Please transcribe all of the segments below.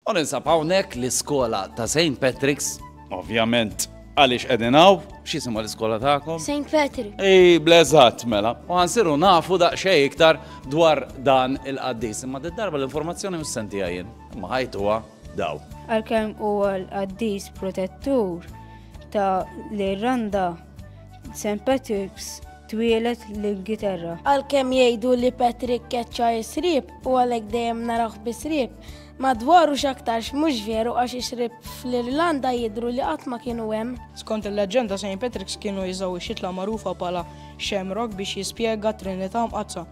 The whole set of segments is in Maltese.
U ninsab hawnhekk l-iskola ta' Saint Patrick's, ovvjament għaliex qegħdin hawn, x'jisimha l-iskola tagħkom? Saint Patrick. Ii, bl-eżatt mela. U ħansiru nafu daqsxejn iktar dwar dan il-qaddis. Imma did-darba l-informazzjoni mhux se ntiha jien, imma ħajtuha dawn. Għalkemm huwa l-qaddis protettur ta' l-Irlanda, Saint Patrick's twieled l-Ingilterra. Għalkemm jgħidu li Patrick keċċa s-sriep u għalhekk dejjem narawh bis-sriep, Madwar u x'aktarx mhux veru għax ix-xrieb fl-Irlanda jidhru li qatt ma kienu hemm. Skont il-leġġenda Saint Patrick's kienu jużaw ix-xitla magħrufa bħala shamrock biex jispjega t-Trinità Mqaddsa.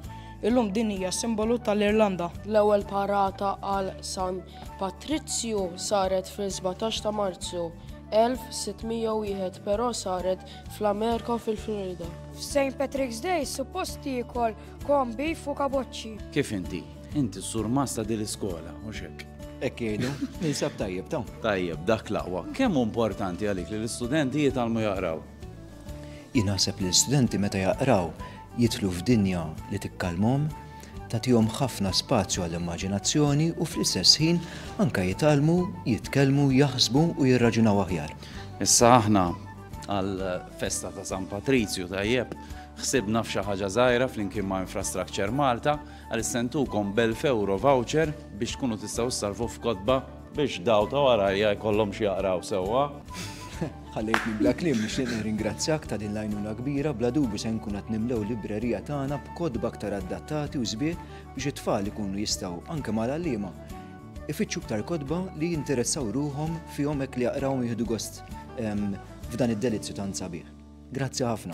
Illum din hija s-simbolu tal-Irlanda. L-ewwel parata għal San Patrizzju saret fis-17 ta' Marzu, 1601 però saret fl-Amerika u fil-Florida. F'Saint Patrick's Day suppost jiekol Kom beef u kaboċċi. Kif inti? Inti s-sur masta dil iskola u xek. Ekk jgħidu, ninsab tajjeb ta' Tajjeb, dak laqwa. Kemm importanti għalik li l-istudenti jitalmu jaqraw? Jinaħseb li l-istudenti meta jaqraw jitlu f'dinja li tikkalmhom, tagħtihom ħafna spazju għall-immaġinazzjoni u fl-istess ħin anka jitalmu, jitkellmu, jaħsbu u jirraġunaw aħjar. Issa aħna għal festa ta' San Patrizju tajjeb Ħsibna f'xi ħaġa żgħira flimkien ma' Infrastructure Malta għaliex se ntukom b'elf ewro voucher biex tkunu tistgħu ssalvu f'kotba, biex daw ta' warajja jkollhom x'jaqraw sewwa. Ħallejtni bla kliem, nixtieq nirringrazzjak ta' din l-għajnuna kbira, bla dubju se nkun qed nimlew librerija tagħna b'kotba aktar addattati u sbieħ biex it-tfal ikunu jistgħu, anke mal-għalliema, ifittxu iktar kotba li jinteressaw ruħhom fihom hekk li jaqrawhom u jieħdu gost f'dan id-delizzju tant sabiħ. Grazzi ħafna.